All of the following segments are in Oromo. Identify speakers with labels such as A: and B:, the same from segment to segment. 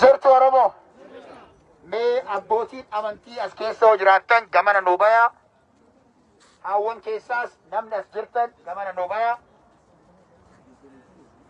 A: Jirtu Oromoo. Mee abbootiin amantii as keessa hoo jiraattan gamana nuu bayaa. Haawwan keessaas namni as jirtan gamana nuu bayaa.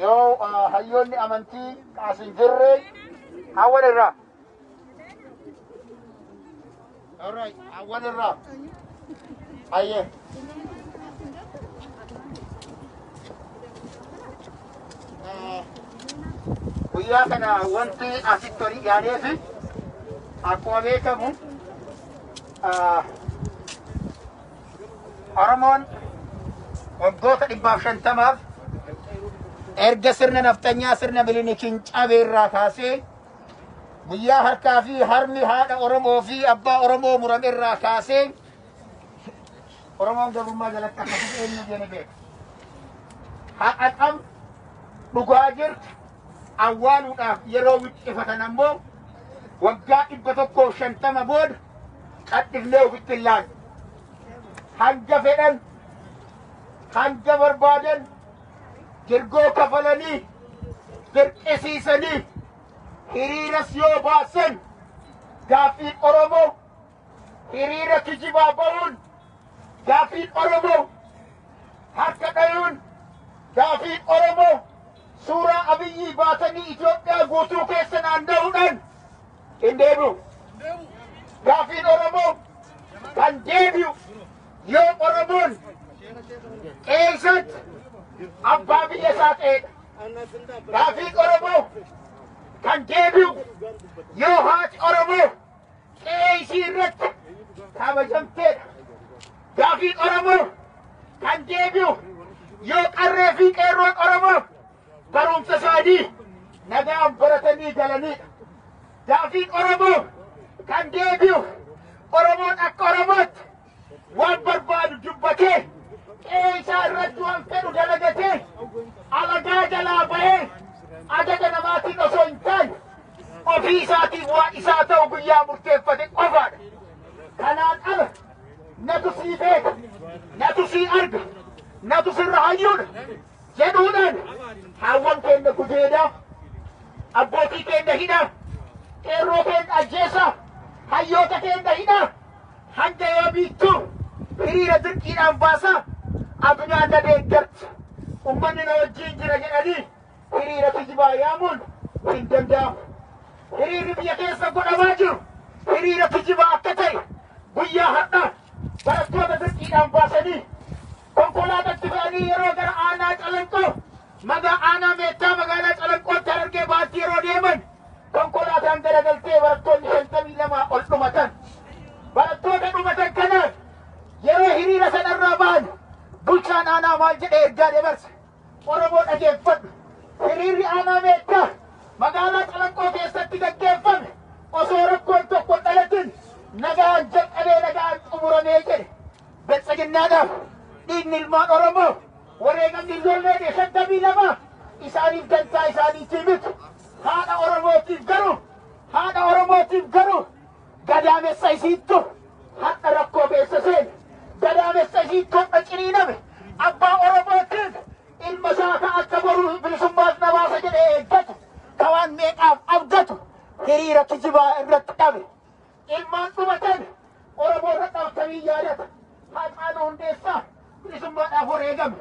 A: Yoo ah, hayyoonni amantii as hin jirre hawwan irraa. Alright, hawwan irraa. Ayyee. Ah, Guyyaa kana wanti asitti olii yaadee fi akkuma beekamu ah, Oromoon waggoota dhibbaaf shantamaaf erga sirna nafxanyaa sirna milinikiin cabee irraa kaasee guyyaa harkaa fi harmi haadha Oromoo fi abbaa Oromoo murame irraa kaasee Oromoon gabrummaa jalatti akkasitti eenyu jene beeka. Haqa qabdu dhugaa jirtu awwaaluudhaaf yeroo wixxifatan ammoo Waggaa 150 booda cadhifnee ofitti hin laalle. Hanga fedhan, hanga barbaadan dirgoo kafalanii, dirqisiisanii, hiriiras yoo baasan gaaffiin Oromoo Hiriira kijibaa ba'uun gaaffiin Oromoo harka dhayuun gaaffiin Oromoo suuraa Abiyyii baatanii Itoophiyaa guutuu keessa naanna'uudhaan hin deebi'u. Gaaffiin Oromoo kan deebi'u yoo Oromoon qeessaatti abbaa biyya isaa ta'edha. Gaaffiin Oromoo kan deebi'u yoo haati Oromoo qe'ee ishii irratti kabajamteedha. Gaafiin Oromoo kan deebi'u yoo qarree fi qeerroon Oromoo barumsa isaanii nagaan baratanii galaniidha. Gaafiin Oromoo kan deebi'u Oromoon akka Oromootti waan barbaadu dubbatee qe'ee isaa irratti waan fedhu dalagatee alagaa jalaa bahee ajaja namaatiin osoo hin taane ofii isaatiif waan isaa ta'u guyyaa murteeffate qofaadha. Kanaan ala natu sii beeka, natu sii arga, natu sirra hayyuudha jedhuudhaan haawwan keenya gudeedaa, abbootii keenya hidhaa, qeerroo keenya ajjeesaa, hayyoota keenya hidhaa. Hanga yoomiittu hiriira dirqiidhaan baasa? Adunaan na deeggarti, ummanni na wajjiin jira jedhanii hiriira kijibaa yaamuun hin danda'amu. Hiriirri biyya keessa godhamaa jiru hiriira kijibaa akka ta'e guyyaa har'aa barattoota dirqiidhaan baasanii Konkolaatatti fe'anii yeroo gara aanaa Calanqoo maga aanaa Meettaa magaalaa Calanqootti Harargee Bahaatti yeroo deeman konkolaataan garagaltee barattoonni 52 ol dhumatan. Barattoota dhumatan kanaan yeroo hiriira sanarraa bahan bulchaan aanaa maal jedhee ergaa dabarse Oromoo dhageeffadhu. Hiriirri aanaa Meettaa magaalaa Calanqoo keessatti gaggeeffame osoo rakkoon tokko hin dhalatin nagaan jalqabee nagaan xumuramee jedhe. Badhaadhinaadhaaf dhiigni ilmaan Oromoo wareegamni ijoollee kee shantamii lama isaaniif dantaa isaaniitii miti. Haadha Oromootiif garuu haadha Oromootiif garuu gadaamessa isiittu har'a rakkoo keessa seene. Gadaamessa isiittu har'a ciniiname. Abbaa Oromootiif ilma isaa ka akka boruu bilisummaaf na baasa jedhee eeggatu ka waan meeqaaf abdatu hiriira kijibaa irratti dhabe. Ilmaan dhumatan Oromoo irra dhabtanii yaadata. Haacaaluu Hundeessaa bilisummaadhaaf wareegame.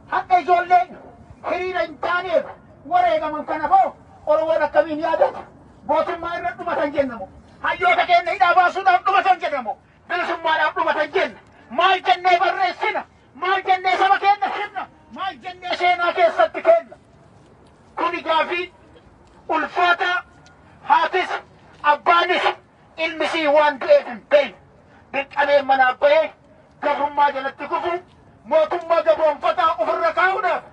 A: Hadha ijoolleen hiriira hin taaneef wareegaman kana hoo Oromoon akkamiin yaadata? Mootummaa irra dhumatan jenna moo? Hayyoota keenya hidhaa baasuudhaaf dhumatan jenna moo? Bilisummaadhaaf dhumatan jenna. Maal jennee barreessina? Maal jennee saba keenya himna? Maal jennee seenaa keessatti kenna? Kuni gaafii ulfaataa haatis abbaanis ilmi isii waan du'eef hin beeyne. Dirqamee manaa bahee gabrummaa jalatti kufuu mootummaa gabroomfataa ofirra kaa'uudhaaf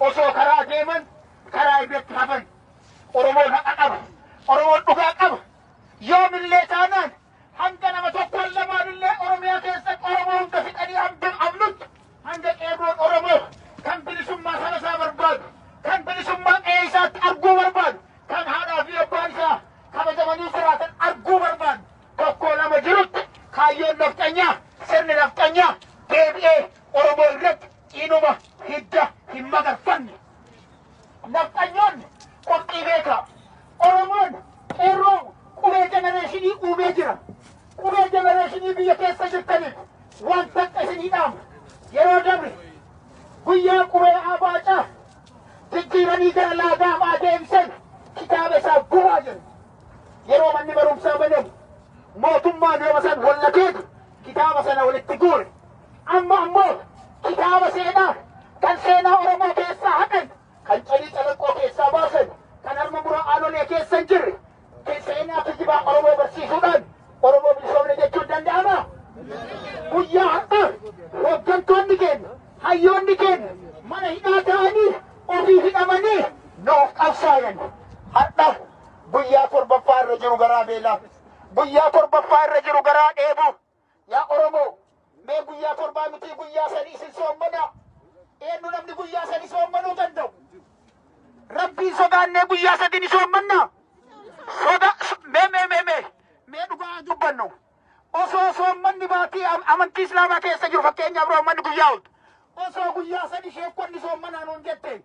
A: osoo karaa deeman karaa irratti hafan. Oromoon haqa qaba. Oromoon dhugaa qaba. Yoomillee taanaan Hanga nama tokkoon lamaanillee Oromiyaa keessatti Oromoo hunda fixanii hambin amnutti hanga qeerroon Oromoo kan bilisummaa saba isaa barbaadu, kan bilisummaa qe'ee isaatti arguu barbaadu, kan haadhaa fi abbaan isaa kabajamanii jiraatan arguu barbaadu tokkoo lama jirutti kaayyoon nafxanyaa sirni nafxanyaa deebi'ee Oromoo irratti ciinuma hidda hin magarfanne. Nafxanyoonni qophii beekaa. Oromoon qeerroo qubee jenereeshinii uumee jira. Qubee jenereeshinii biyya keessa jirtaniif waan takka isinii dhaamu. Yeroo dabre guyyaa qubee abaacaa jijjiiranii gara laagaamaa deemsan kitaaba isaa gubaa jiru. Yeroo manni barumsaa banamu mootummaan yeroo san wallakeetu kitaaba sana walitti guure. Amma ammoo kitaaba seenaa kan seenaa Oromoo keessaa haqan, kan calii calaqqoo keessaa baasan, kan harma muraa aanolee keessa hin jirre, kan seenaa kijibaa Oromoo barsiisuudhaan Oromoo bilisoomne jechuun danda'ama. Guyyaa har'aa hooggantoonni keenya, hayyoonni keenya mana hidhaa ta'anii ofii hidhamanii nuuf qabsaayan. Har'a guyyaa torbaffaa irra jiru garaa beelaa, guyyaa torbaffaa irra jiru garaa dheebuu, Yaa Oromoo! Mee guyyaa torbaa mitii guyyaa sadi isin soommanaa. Eenyu namni guyyaa sadi soommanuu danda'u? Rabbiin sodaannee guyyaa sadi ni soommannaa? Soda, so- mee mee mee mee mee dhugaa haa dubbannu. Osoo soommanni baatii am- amantii Islaamaa keessa jiru fakkeenyaaf Roomanni guyyaa ooltu. Osoo guyyaa sadi sheekkonni soommanaa nuun jette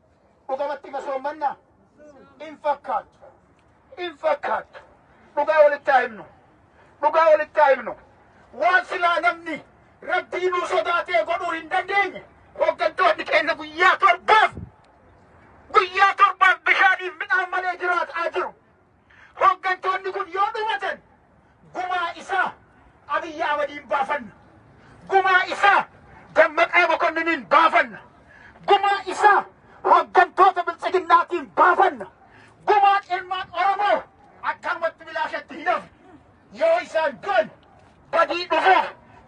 A: Dhugamatti masoommannaa? Hin fakkaattu. Hin fakkaattu. Dhugaa walitti haa himnu. Dhugaa walitti haa himnu. Waan silaa namni rabbii nuu sodaatee godhuu hin dandeenye hooggantoonni keenya guyyaa torbaaf guyyaa torbaaf bishaaniif midhaan malee jiraataa jiru. Hoggantoonni kun yoo dhumatan gumaa isaa Abiyyi Ahmadiin baafanna. Gumaa isaa Dammaqaa Makonniniin baafanna. Gumaa isaa hoggantoota biltsiginnaatiin baafanna. Gumaa ilmaan Oromoo akkanumatti bilaashatti hin hafu. Yoo isaan du'an badii dhufaa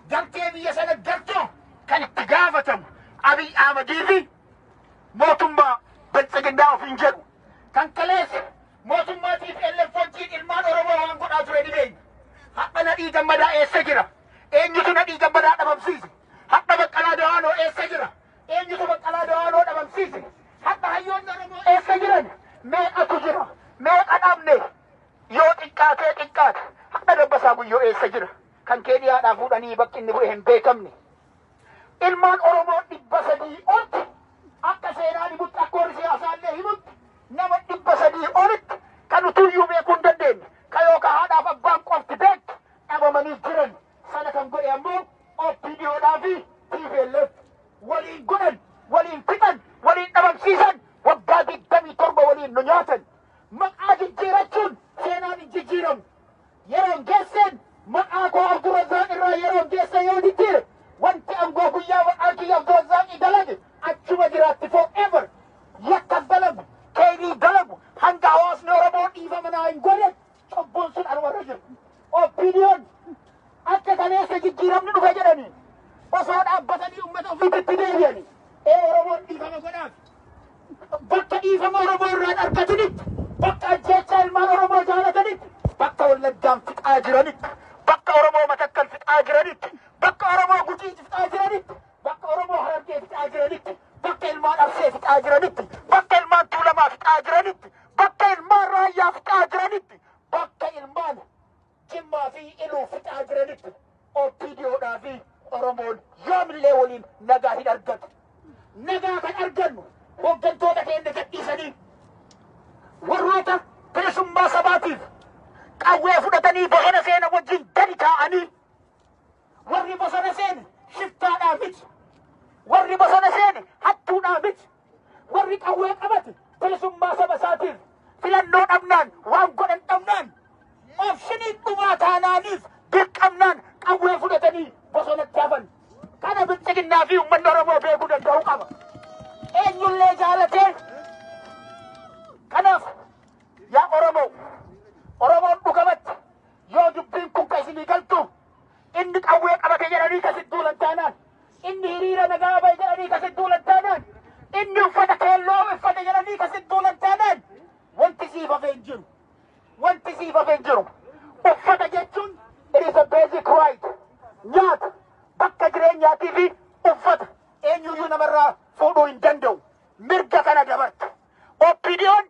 A: gartee biyya sana galchuu kan itti gaafatamu Abiy Ahmadii fi mootummaa biltsiginnaa ofiin jedhu. Kan kaleessa mootummaa tplf wajjiin ilmaan Oromoo waan godhaa ture ni beekna. Hadha Nadhii Gammadaa eessa jira? Eenyutu Nadhii Gammadaa dhabamsiise? Hadha Baqqalaa Dawaanoo eessa jira? Eenyutu Baqqalaa Dawaanoo dhabamsiise? Hadha hayyoonni Oromoo eessa jiran? Meeqatu jira? Meeqa dhabne? Yoo xiqqaatee xiqqaate hadha Dabbasaa Guyyoo eessa jira? Kan Keeniyaadhaa fuudhanii bakki inni bu'e hin beekamne. Ilmaan Oromoo dhibba sadii olti akka seenaan himutti akka warri siyaasaa illee himutti nama dhibba sadii olitti kan utuu iyyuu beekuu hin dandeenye ka yookaan haadhaaf abbaan qofti beektu dhabamanii jiran sana kan godhe ammoo OPDOdhaa fi TPLF waliin godhan waliin fixan waliin dhabamsiisan waggaa digdamii torba waliin nu nyaatan maqaa jijjiirachuun seenaan hin jijjiiramu. Yeroon geesseen maqaa koo Abdurazzaaq irraa yeroon geesse yoo jijjiire wanti angoo guyyaa maqaan kiyya Abdurazzaaqii dalage achuma jiraatti for ever. Yakkas dalagu, keeyrii dalagu hanga hawaasni Oromoo dhiifama naa hin gooneef cubbuun sun anuma irra jirti. OPDOn akka kaleessa jijjiiramni dhufe jedhanii osoo dhaabbatanii uummata ofiititti deebi'anii ee Oromoon dhiifama godhaaf. bakka dhiifama Oromoo irraan argatinitti, bakka ajjeechaa ilmaan Oromoo jaalatanitti, bakka Wallaggaan fixaa jiranitti, bakka Oromoo Matakkal fixaa jiranitti, bakka Oromoo Gujii fixaa jiranitti, bakka Oromoo Harargee fixaa jiranitti, bakka ilmaan Arsee fixaa jiranitti, bakka ilmaan Tuulamaa fixaa jiranitti, bakka ilmaan Raayyaa fixaa jiranitti, bakka ilmaan Jimmaa fi Iluu fixaa jiranitti OPDOdhaa fi Oromoon yoomillee waliin nagaa hin argatu. Nagaa kan argannu hooggantoota keenya gadhiisanii warroota bilisummaa sabaatiif qawwee fudhatanii bosona seena wajjin gadi taa'anii warri bosona seeni shiftaadhaa miti. Warri bosona seeni hattuudhaa miti. Warri qawwee qabate bilisummaa saba isaatiif filannoo dhabnaan waan godhan dhabnaan obshinii dhumaa taanaaniif dirqamnaan qawwee fudhatanii bosonatti hafan. Kana bilxiginnaa fi uummanni Oromoo beekuu danda'uu qaba. Eenyullee jaalatee kanaaf yaa Oromoo Oromoon dhugamatti yoo dubbiin kun kan isinii galtu Inni qawwee qabate jedhanii ka sitti duulan taanaan, inni hiriira nagaa bahe jedhanii ka sitti duulan taanaan, inni uffata keelloo uffate jedhanii ka sitti duulan taanaan, wanti siif hafe hin jiru. Wanti siif hafe hin jiru. Uffata jechuun it is a basic right. Nyaata, bakka jireenyaatii fi uffata eenyuyyuu namarraa fuudhuu hin danda'u. Mirga kana dabartu. OPDOn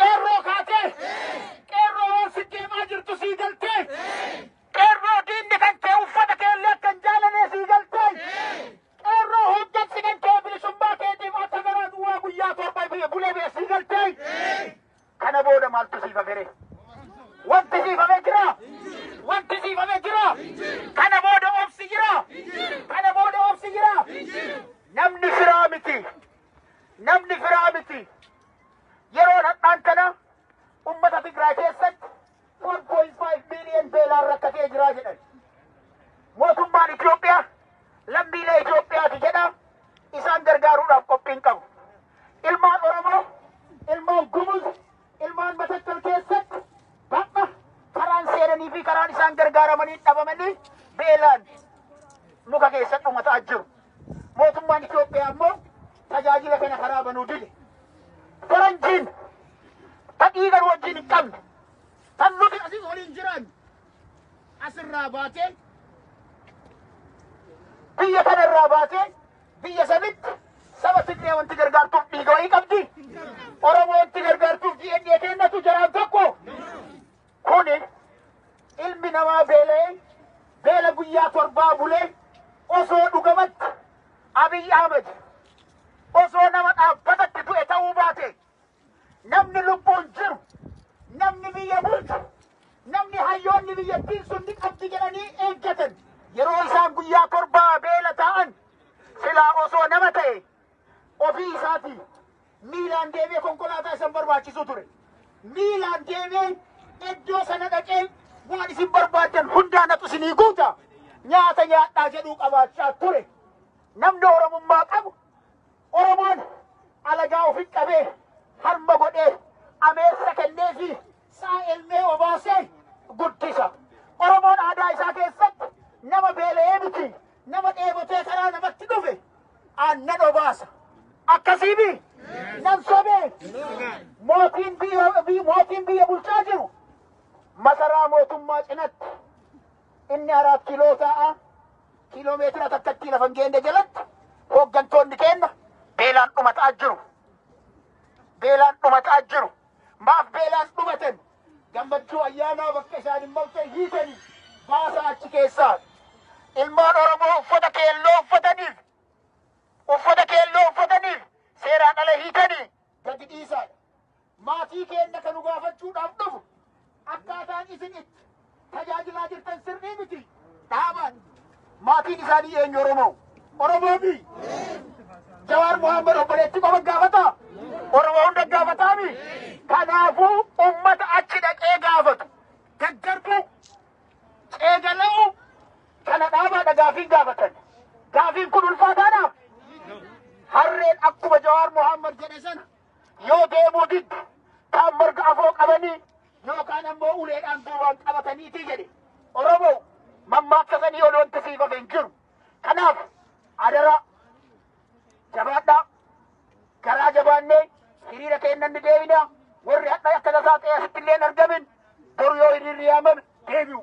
A: Qeerroo kaatee qeerroo waan si deemaa jirtu sii galtee qeerroo diinni kan kee uffata keellee akka hin jaalanee sii galtee qeerroo hoggansi kan kee bilisummaa keetiif akka garaa duwwaa guyyaa torba bee bulee bee sii galtee kana booda maaltu siif hafere wanti siif hafee jira wanti siif hafee jira kana booda obsi jira kana booda obsi jira namni firaa miti namni firaa miti. Yeroo hadhaan kana ummata Tigraay keessatti 4.5 miiliyoon beelaan rakkatee jiraa jedhan. Mootummaan Itoophiyaa lammiilee Itoophiyaati jedha isaan gargaaruudhaaf qophiin qabu. Ilmaan Oromoo, ilmaan Gumuz, ilmaan Matakkal keessatti bakka karaan seenanii fi karaan isaan gargaaramanii dhabamanii beelaan muka keessatti dhumataa jiru. Mootummaan Itoophiyaa ammoo tajaajila kana karaa banuu dide. Faranjiin ta dhiiga nu wajjin hin qabne tan nuti asii waliin jiraannu asirraa baatee biyya kana irraa baatee biyya sanitti saba Tigree wanti gargaartuuf dhiiga wayii qabdi. Oromoo wanti gargaartuuf DNA kennatu jaraan tokko. Kuni ilmi namaa beela'ee beela guyyaa torbaa bulee osoo dhugamatti Abiy Ahmed osoo nama dhaabbatatti du'e ta'uu baate namni lubbuun jiru namni biyya bulchu namni hayyoonni biyyattiin sun ni qabdi jedhanii eeggatan yeroo isaan guyyaa torbaa beela taa'an silaa osoo nama ta'e Ofii isaatii miilaan deemee konkolaataa isan barbaachisuu ture. Miilaan deemee iddoo sana dhaqee waan isin barbaaddan hundaa natu isinii guuta nyaata nyaadhaa jedhuu qabaachaa ture. Namni Oromummaa qabu Oromoon alagaa ofin qabee harma godhee ameessa kennee fi isaa elmee obaasee guddisa. Oromoon aadaa isaa keessatti nama beela'ee miti nama dheebotee karaa namatti dhufe aannan obaasa. Akkasii bi nan sobee mootiin biyya bi- mootiin biyya bulchaa jiru masaraa mootummaa cinatti inni araat kiloo ta'a kiiloo meetira takkatti lafa hin geenne jalatti hooggantoonni keenya beelaan dhumataa jiru. Beelaan dhumataa jiru. Maaf beelaan dhumatan? Gammachuu ayyaanaa bakka isaan hin maltee hiitanii baasaa achi keessaa. Ilmaan Oromoo uffata keelloo uffataniif uffata keelloo uffataniif seeraan ala hiitanii gadi dhiisaa. Maatii keenya kan nu gaafachuudhaaf dhufu Akkaataan isin itti tajaajilaa jirtan sirrii miti. Dhaabaan maatiin isaanii eenyu Oromoo? Oromoo fi Jawaar Mohaammed obboleetti qofa gaafata. Oromoo hunda gaafataami. Kanaafuu uummata achi dhaqee gaafatu. Gaggarbuu ceegalamuu kana dhaabaadha gaafiin gaafatan. Gaafiin kun ulfaataadhaaf harreen akkuma Jawaar Mohaammed jedhe sana yoo deemuu didde kaan marga afoo qabanii yookaan ammoo uleedhaan duubaan qabataniiti jedhe Oromoo mammaaksa sanii ol wanti siif hafe hin jiru. Kanaaf adaraa jabaadhaa garaa jabaannee hiriira keenna ni deebina warri hadha akka tasaa ta'e asitti illee hin argamin boru yoo hiriirri yaamame deebi'u.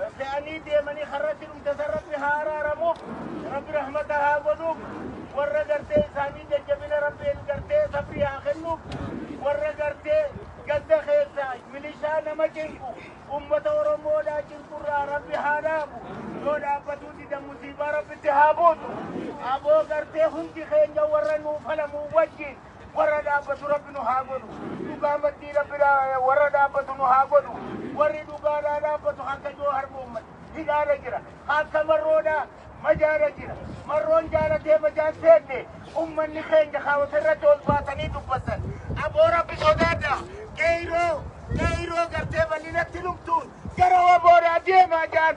A: Baddaanii deemanii karratti dhumte san rabbi haa araaramu rabbi rahmata haa godhuuf warra gartee isaanii jajjabina rabbiin gartee sabrii haa kennuuf warra gartee ganda keessaa milishaa nama cinqu ummata oromoodhaa cinqurraa rabbi haa dhaabu yoo dhaabbatuu dida musiibaa rabbitti haa buusu aboo gartee hundi keenya warra nuu falamuu wajjin warra dhaabbatu rabbi nu haa godhu dhugaa maddii rabbi dha- warra dhaabbatu nu haa godhu warri dhugaadhaa dhaabbatu akka joo harmuumman hidhaadha jira akka marroodha majaadha jira marroon jaalatee majaan seenne ummanni keenya kaawwata irratti ol baatanii dubbatan aboo rabbi sodaadha qeeyroo qeeyroo gartee bal'inatti lubtuun gara waboodhaa deemaa jaan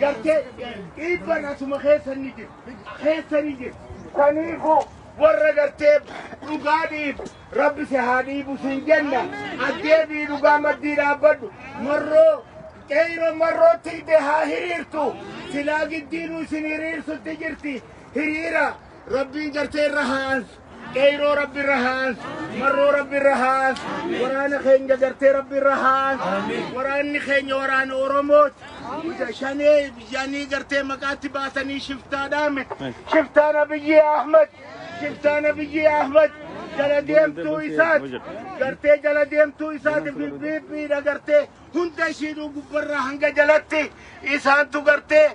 A: gartee dhiibban asuma keessa ni jiru keessa ni jiru kaniifu warra gartee dhugaa dhiibu rabbi si haa dhiibu sin jenna addeebii dhugaa maddii dhaabbadhu marroo qeeyro marroo tiide haa hiriirtu silaa giddiinu isin hiriirsutti jirti hiriira rabbiin gartee irra haa ansu Qeyroo rabbi irra haas, marroo rabbi irra haas, waraana keenya gartee rabbi irra haas, waraanni keenya waraana Oromooti. Ija shanee biyyanii gartee maqaatti baatanii shiftaa dhaame. Shiftaan Abiyyi Ahmad, shiftaan Abiyyi Ahmad jala deemtuu isaati. Gartee jala deemtuu isaati bibbiibbiidha gartee hunda ishiidhuu gubbarraa hanga jalatti isaantu gartee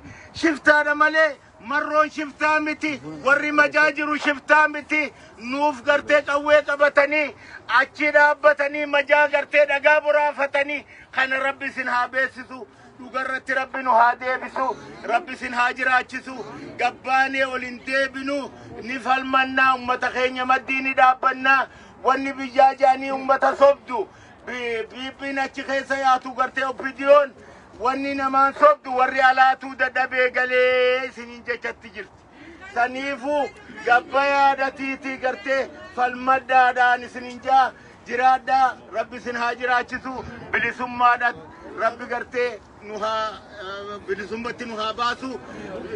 A: shiftaadha malee Marroon shiftaa miti warri majaa jiru shiftaa miti nuuf gartee qawwee qabatanii achi dhaabbatanii majaa gartee dhagaa boraafatanii kana rabbi isin haa beeksisu dhugarratti rabbi nu haa deebisu rabbi isin haa jiraachisu gabbaanee ol hin deebinu ni falmannaa ummata keenya maddii ni dhaabbannaa wanni biyyaa jaanii ummata sobdu biiphiin achi keessa yaatu gartee oppidiyoon Wanni namaan sobdu warri alaatuu dadhabee galee isiniin jechatti jirti. Saniifuu gabba yaadatiitii gartee falmadhaadhaan isiniin jaa jiraadhaa rabbi isin haa jiraachisu bilisummaadhaan rabbi gartee nu haa eh, bilisummatti nu haa baasu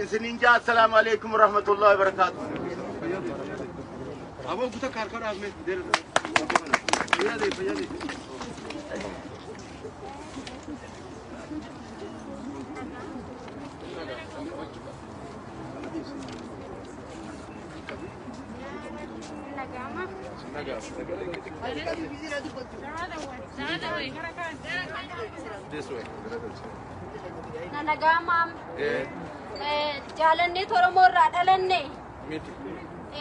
A: isiniin jaa assalaamu alaikum warahmatullahi wabarakaatu. Aboo guutaa kaarkaa dhaabne. Fayyadee fayyadee.
B: This way. Nanagaa maam Eh, jaalannee Oromoo irraa dhalanne miti.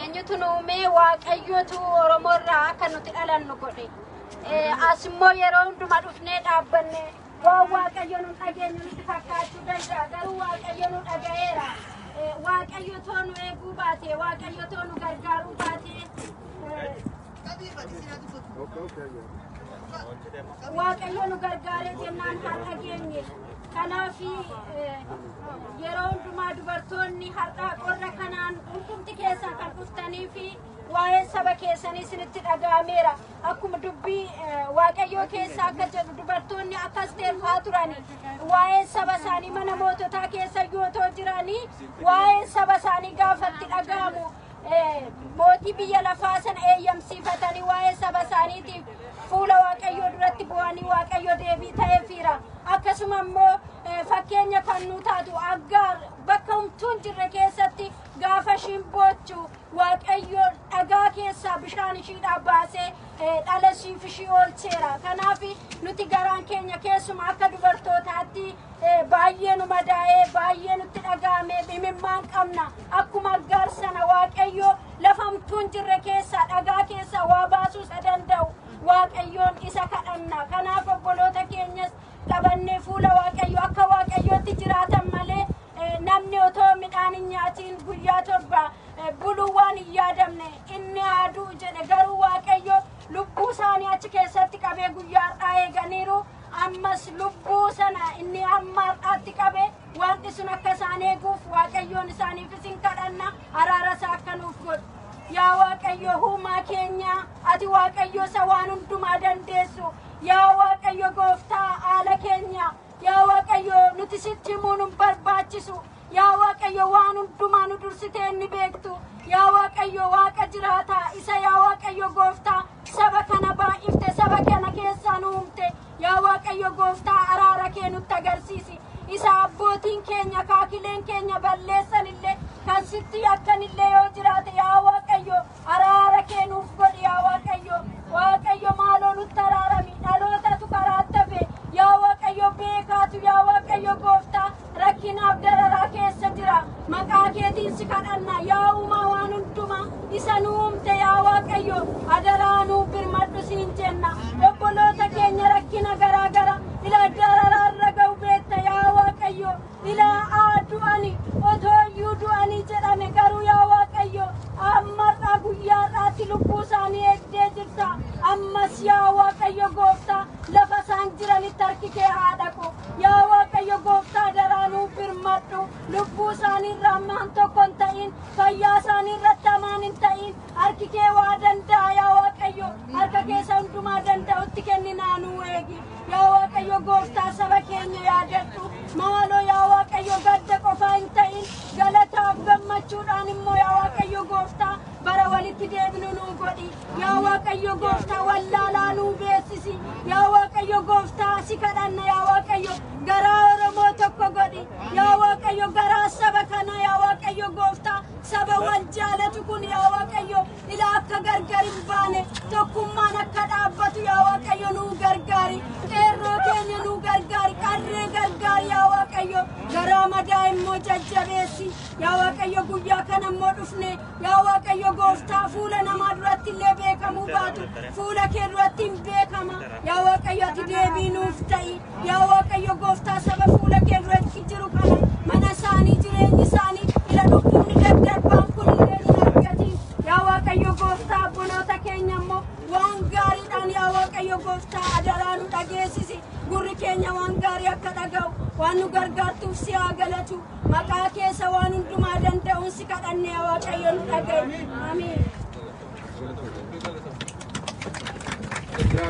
C: eenyutu nu uumee waaqayyootu Oromoo irraa akka nuti dhalannu godhe. As immoo yeroo hundumaa dhufnee dhaabbanne waan waaqayyo nu dhageenyu nutti fakkaachuu danda'a garuu waaqayyo nu dhaga'eera. Waaqayyo too nu eeguu baate waaqayyo too nu gargaaruu baate. Waaqayyo nu gargaaree jennaan haa dhageenye. Kanaaf yeroo hundumaa dubartoonni har'aa qorra kanaan hundumti keessaa kan dhuftanii fi Waa'een saba keessanii isinitti dhaga'ameera. Akkuma dubbii Waaqayyoo keessa akka jedhu dubartoonni akka Asteer fa'aa turan waa'een saba isaanii mana moototaa keessa yoo ta'u jiranii waa'een saba isaanii gaafatti dhaga'amu mootii biyya lafaa sana eeyyamsiifatanii waa'ee saba isaaniitiif fuula Waaqayyoo duratti bu'anii Waaqayyo deebii ta'eefiira. Akkasuma immoo fakkeenya kan nu taatu Aggaar bakka humtuun jirre keessatti gaafa ishiin boochu Waaqayyo dhagaa keessaa bishaan ishiidhaa baasee eh, dhala siif ishii oolcheera. Kanaaf nuti garaan keenya keessuma akka dubartootaatti eh, baay'ee nu madaa'ee baay'ee nutti dhaga'ame imimmaan qabna. Akkuma aggaar sana Waaqayyo lafa hamtuu hin jirre keessaa dhagaa keessaa waa baasuu isa danda'u. Waaqayyoon isa kadhanna. Kanaaf obboloota keenyas qabannee fuula Waaqayyoo akka Waaqayyootti jiraatan malee namni otoo midhaan hin nyaatiin guyyaa torba buluu waan hin yaadamne inni haa du'u jedhe garuu Waaqayyo lubbuu isaanii achi keessatti qabee guyyaa har'aa eeganiiru ammas lubbuu sana inni amma har'aatti qabe waaqni sun akka isaan eeguuf Waaqayyoon isaaniif isin kadhanna araara isaa akka nuuf godhu. Yaa Waaqayyo huumaa keenya ati Waaqayyo isa waan hundumaa dandeessu Yaa Waaqayyo gooftaa haala keenya yaa Waaqayyo nuti sitti himuu nun barbaachisu yaa Waaqayyo waan hundumaa nu dursitee inni beektu yaa Waaqayyo waaqa jiraata isa yaa Waaqayyo gooftaa saba kana baay'ifte saba kana keessaa nu uumte yaa Waaqayyo gooftaa araara kee nutti agarsiisi isa abbootiin keenya kaakileen keenya balleessan illee kan sitti yakkan illee yoo jiraate yaa Waaqayyo Araara kee nuuf godhi yaa Waaqayyo. Waaqayyo maaloo nutti araarami. Dhalootatu karaatti hafe. Yaa Waaqayyo beekaatu yaa Waaqayyo gooftaa rakkinaaf dararaa keessa jira. Maqaa keetiin si kadhanna yaa uumaa waan hundumaa isa nu uumte yaa Waaqayyo adaraa nuuf birmadhu siin jenna. Obboloota keenya rakkina garaa garaa ila dararaa irra ga'u beekta yaa Waaqayyo. Ilaa'aa du'ani otoo iyyuu du'anii jedhame garuu yaa Waaqayyo ammarraa guyyaarraatti lubbuu isaanii eegdee jirta ammas yaa Waaqayyo gooftaa lafa isaan jiranitti harki kee haa dhaqu yaa Waaqayyo gooftaa daraa nuuf birmadhu lubbuu isaanii irraa ammaan tokko hin ta'in fayyaa isaanii irratti amaan hin ta'in harki kee waa danda'a yaa Waaqayyo harka keessa hundumaa danda'utti kenninaa nuu eegi Yaa Waaqayyo gooftaa saba keenya yaadadhu. Maaloo yaa Waaqayyo gadda qofaa hin ta'in galataaf gammachuudhaan immoo yaa Waaqayyo gooftaa bara walitti deebinu nuu godhi. Yaa Waaqayyo gooftaa wallaalaa nuu beeksisi. Yaa Waaqayyo gooftaa si kadhanna yaa Waaqayyo garaa Oromoo tokko godhi. Yaa Waaqayyo garaa saba kana yaa Waaqayyo gooftaa saba wal jaalatu kun yaa Waaqayyo Ila akka gargar hin baane tokkummaan akka dhaabbatu yaa Waaqayyo nuu gargaari. Qeerroo keenya nuu gargaari. Qarree gargaari yaa Waaqayyo. Garaa madaa immoo jajjabeessi. Yaa Waaqayyo guyyaa kana immoo dhufne. Yaa Waaqayyo gooftaa fuula namaa duratti illee beekamuu baatu. Fuula kee duratti hin beekama. Yaa Waaqayyo ati deebii nuuf ta'i. Yaa Waaqayyo gooftaa saba fuula kee duratti jiru kana mana isaanii jireenyi isaanii ila dhukkubni daddarbaan kun illee hin argatiin yaa Waaqayyo gooftaa abboloota keenya immoo waan gaariidhaan yaa Waaqayyo gooftaa adaraa nu dhageessisi gurri keenya waan gaarii akka dhaga'u waan nu gargaartuuf si haa galatu maqaa keessa waan hundumaa danda'uun si kadhanne yaa Waaqayyo nu dhaga'i. Ameen.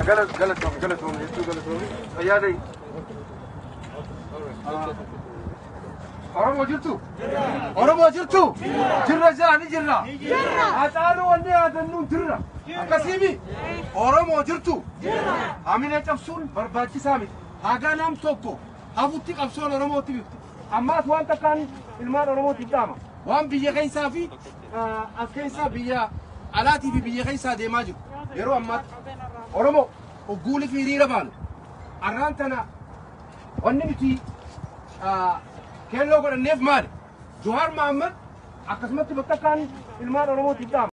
C: Galatoomi galatoomi hedduu galatoomi
D: fayyaa ta'e. Oromoo jirtu? Oromoo jirtu? Jirra jira ni jirra. Haacaaluu wanni yaadannuun jirra. Akkasiimi? Oromoo jirtu? Hamilee cabsuun barbaachisaa miti. Hagaa nam tokko hafutti qabsoon Oromootti bifti. Ammaas waan takkaan ilmaan Oromootiif dhaama. Waan biyya keessaa fi as keessaa biyya alaatii fi biyya keessaa deemaa jiru. Yeroo ammaatti Oromoo ogguulii fi hiriira baanu arraan tana wanni nuti keelloo godhanneef maali? Johaar Mahammad akkasumatti bakka isaan ilmaan Oromootiif dhaama.